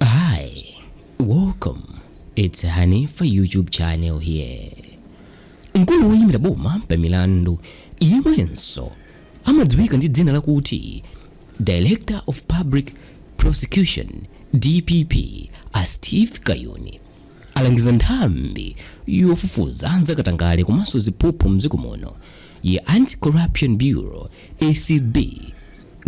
Hi, welcome. It's Hanifa YouTube channel here. Mkulu woyimira boma pa milandu yemwenso amadziwika ndi dzina lakuti Director of Public Prosecution DPP a Steve Kayuni alangiza nthambi yofufuza zakatangale komanso ziphuphu mdziko muno ya Anti-Corruption Bureau ACB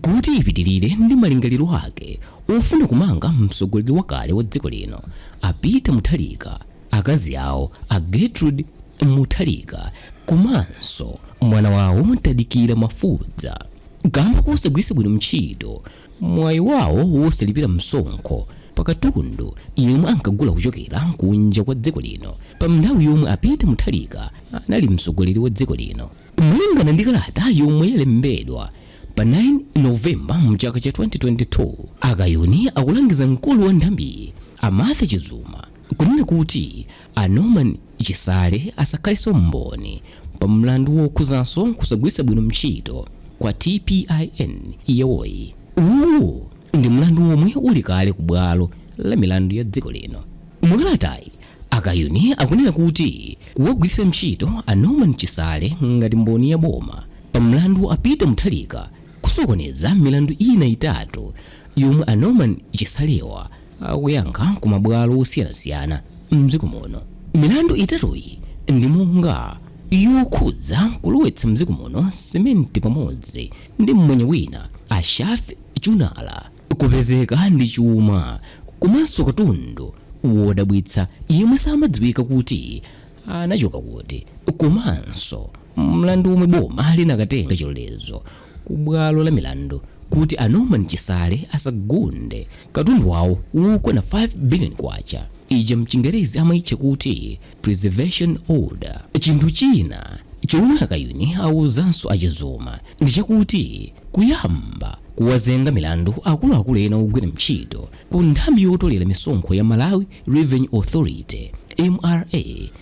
Kuti ipitilire ndi malingaliro ake ofuna kumanga mtsogoleri wakale wa dziko lino a Peter Mutharika, akazi awo a Gertrude Mutharika komanso mwana wawo Tadikira Mafubza kamba kosagwiritsa bwino mtchito mwayi wawo wosalipira msonkho pa katundu yemwe ankagula kuchokera kunja kwa dziko lino pa mnthawi yomwe a Peter Mutharika anali mtsogoleri wa dziko lino. Malingana ndi kalata yomwe yalembedwa pa 9 November mchaka cha 2022, a Kayuni akulangiza mkulu wa nthambiyi a Martha Chizuma kunena kuti a Norman Chisale asakhaleso mboni pa mlandu wokhuzaso kusagwiritsa bwino mtchito kwa TPIN yawoyi. Uwu ndi mlandu womwe uli kale ku bwalo la milandu ya dziko lino. Mu kalatayi, A Kayuni akunena kuti kuwagwiritsa ntchito a Norman Chisale ngati mboni ya boma pa mlandu wa a Peter Mutharika kusokoneza milandu ina itatu yomwe a Norman Chisalewa akuyankha ku mabwalo osiyanasiyana mdziko muno. Milandu itatuyi ndi monga yokhudza kulowetsa mdziko muno simenti pamodzi ndi mmwenye wina a Shafi Chunara, Kupezeka ndi chuma komanso katundu wodabwitsa yemwe samadziwika kuti anachoka kuti komanso mlandu womwe boma linakatenga chilolezo ku bwalo la milandu kuti a Norman Chisale asagunde katundu wawo wokwana K5 biliyoni ija mchingerezi amaitcha kuti Preservation Order. Chinthu china chomwe a Kayuni awuzanso a Chizuma ndi chakuti kuyamba kuwazenga milandu akuluakulu ena ogwira ntchito ku nthambi yotolera misonkho ya Malawi Revenue Authority MRA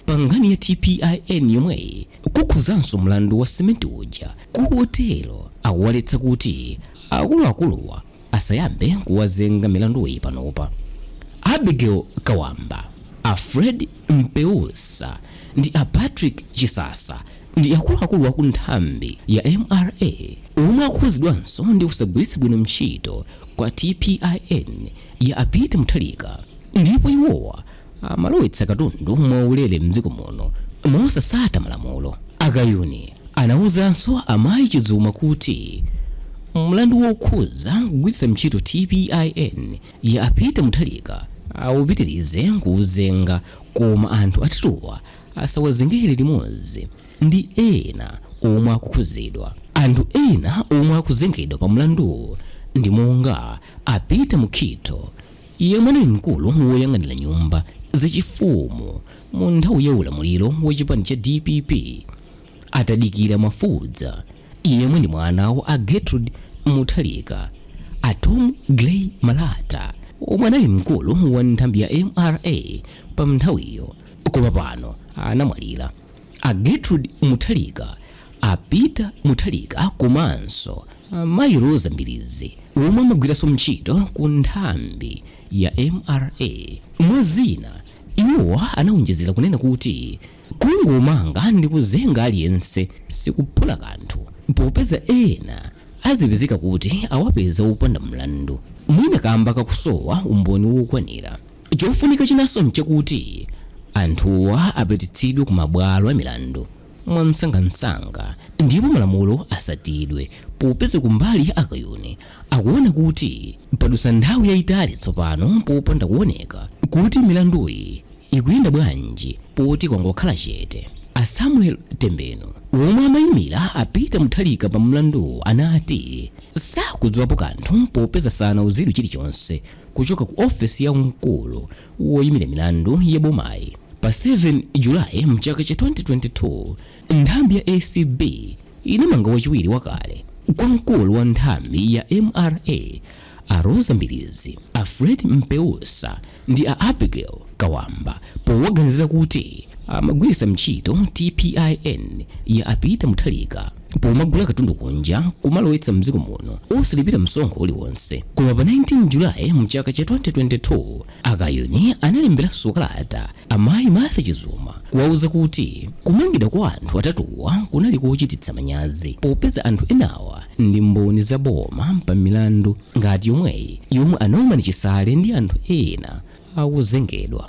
pa nkhani ya TPIN yomweyi kukhuzanso mlandu wa simenti uja kotero akuwaletsa kuti akuluakuluwa asayambe kuwazenga milanduyi panopa. A Abigail Kawamba, a Fred Mpeusa ndi a Patrick Chisasa ndi akuluakulu aku nthambi ya mra omwe akukhudzidwanso ndi kusagwiritsa bwino ntchito kwa TPIN ya a Peter Mutharika ndipo iwowa amalowetsa katundu mwaulere m'dziko muno mosasata malamulo. A Kayuni anauzanso a Mayi Chizuma kuti mlandu wokhuza kugwiritsa ntchito TPIN ya a Peter Mutharika awupitilize kuwuzenga koma anthu atatuwa asawazengere limodzi ndi ena omwe akukhuzidwa. Anthu ena omwe akuzengedwa pa mlanduwu ndi monga a Peter Mukhito, yemwe anali mkulu woyang'anira nyumba zachifumu mu nthawi ya ulamuliro wa chipani cha dpp a Tadikira Mafubza yemwe ndi mwana wa a Gertrude Mutharika a Tom Gray Malata omwe anali mkulu wa nthambi ya mra pa nthawiyo koma pano anamwalira A Gertrude Mutharika, a Peter Mutharika komanso a Mayi Roza Mbilizi omwe amagwiranso ntchito ku nthambi ya mra. Mwa zina, iwo anawonjezera kunena kuti kungomanga ndi kuzenga aliyense sikuphula kanthu popeza ena azipezeka kuti awapeza opanda mlandu mwina kamba kakusowa umboni wokwanira. Chofunika chinanso n'chakuti anthuwa apititsidwe ku mabwalo a milandu mwamsangamsanga ndipo malamulo atsatidwe popeza kumbali ya a Kayuni akuona kuti padutsa nthawi yayitali tsopano popanda kuoneka kuti milanduyi ikuyenda bwanji poti kwangokhala chete. A Samuel Tembenu omwe amayimira a Peter Mutharika pa mlanduwu anati sakudziwapo kanthu popeza sanauzidwe chilichonse. kuchoka ku ofesi ya mkulu woyimira milandu ya bomayi pa 7 julayi mchaka cha 2022 nthambi ya acb inamanga wachiwiri wakale kwa mkulu wa nthambi ya mra a rosa mbilizi a fred mpeusa ndi a abigail kawamba powaganizira kuti amagwiritsa ntchito tpin ya a Peter Mutharika pomagula katundu kunja kumalowetsa mdziko muno osalipira msonkho uliwonse koma pa 19 julayi mchaka cha 2022 a Kayuni analemberanso kalata amayi martha chizuma kuwauza kuti kumangidwa kwa anthu atatuwa kunali kochititsa manyazi popeza anthu enawa ndi mboni za boma pa milandu ngati yomweyi yomwe a Norman Chisale ndi anthu ena akuzengedwa